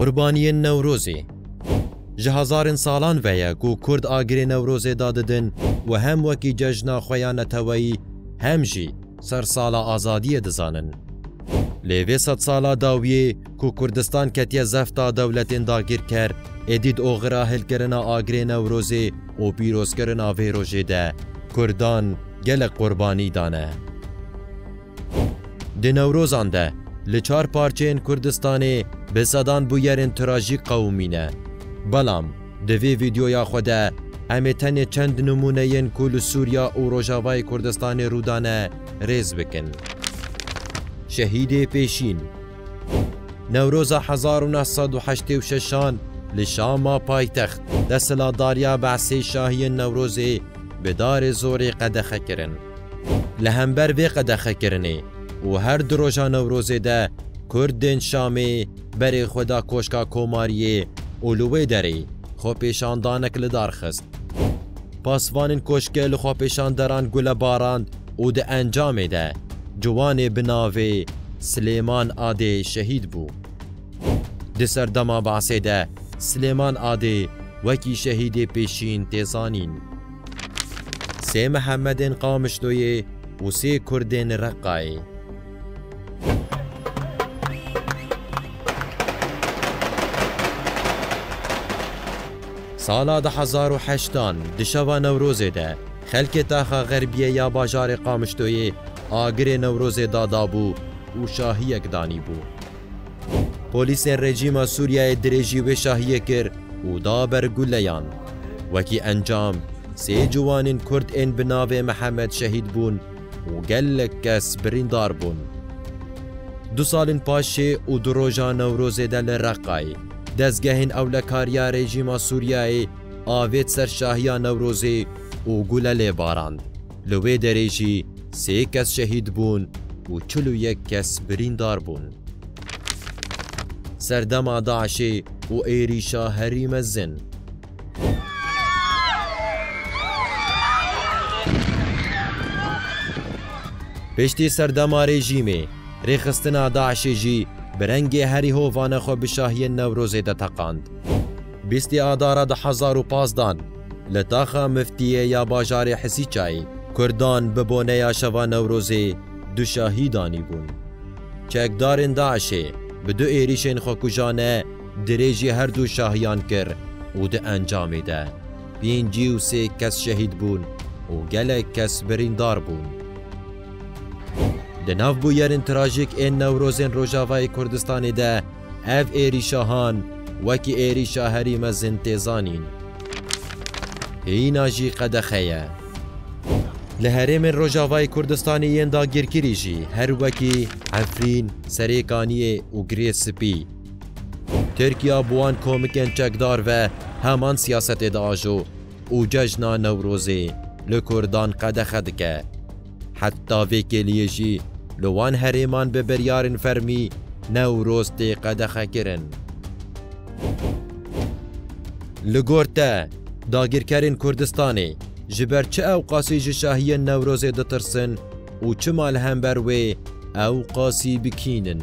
Qurbaniyên Newrozê Ji hezarên salan ve ye ku Kurd agirê Newrozê da didin û hem wekî cejna xwe ya neteweyî hem jî sersala azadiyê dizanin. Lê vê sedsala dawiyê Ku Kurdistan ketiye zefta dewletên dagîrker, êdî di oxira hilkirina agirê Newrozê û pîrozkirina vê rojê de Kurdan gelek qurbanî dane. Di Newrozan de li çar parçeyên Kurdistanê bi sedan bûyerên trajîk qewimîne. Belam di vê vîdyoya xwe de em ê tenê çend nimûneyên ku li Sûriya û Rojavayê Kurdistanê rûdane rêz bikin. Şehîdê Pêşîn. Newroza hezar û neh sed û heştê û şeşan li Şama paytext desthilatdariya Be'sê şahiyên Newrozê bi darê zorê qedexe kirin. Li hember vê qedexekirinê û her du roja Newrozê de Kurd tên Şamê berê xwe da Koşka Komariyê û li wê derê xwepêşandanek lidar xist. Pasvanên koşkê li xwepêşanderan gule barand û di encamê de ciwanê bi navê Silêman Adê şehîd bû. Di serdema Basê de Silêman Adê wekî şehîdê pêşîn tê zanîn. Sê Mihemedên Qamişloyê û sê Kurdên Reqqayê. Sala du hezar û heşt an di şeva Newrozê de xelkê Taxa Xerbiyê ya bajarê Qamişloyê agirê Newrozê dadabû û şahiyek danîbû. Polîsên rejîma Sûriyeyê dirêjî wê şahiyê kir û da ber guleyan. Wekî encam sê ciwanên kurd ên bi navê Mihemed şehîd bûn û gelek kes birîndar bûn. Du salên paşê û du roja Newrozê de li Reqayê dezgehên ewlekariya rejîma Sûriyeyê avêt ser şahiya Newrozê û gule lê barand, li wê derê jî sê kes şehîd bûn û çil û yek kes birîndar bûn. Serdema DAIŞ'ê û êrîşa herî mezin. Piştî serdema rejîmê, rêxistina DAIŞ'ê jî bi rengê herî hovane xwe bi şahiyên Newrozê de teqand. Bîstê Adara du hezar û pazdeh li taxa Miftiyê ya bajarê Hisîçayê Kurdan bi boneya Şeva Newrozê du şahî danîbûn. Çekdarên DAIŞ'ê bi du êrîşên xwekujane, Dirêjî her du şahiyan kir û di encamê de pêncî û sê kes şehîd bûn û gelek kes birîndar bûn. Di nav bûyerên trajîk ên Newrozên Rojavayê Kurdistanê de ev êrîşa han wekî êrîşa herî mezin tê zanîn. Hîna jî qedexe ye. Li herêmên Rojavayê Kurdistanê yên dagîrkirî jî her wekî Efrîn, Serêkaniyê û Girê Spî, Tirkiya bi wan komikên çekdar ve heman siyasetê diajo û cejna Newrozê li Kurdan qedexe dike. Heta vê kêliyê jî li wan herêman bi biryarên fermî Newroz tê qedexekirin. Li gor te, dagîrkerên Kurdistanê ji ber çi ewqasî ji şahiyên Newrozê ditirsin û çima li hember wê ewqasî bikînin?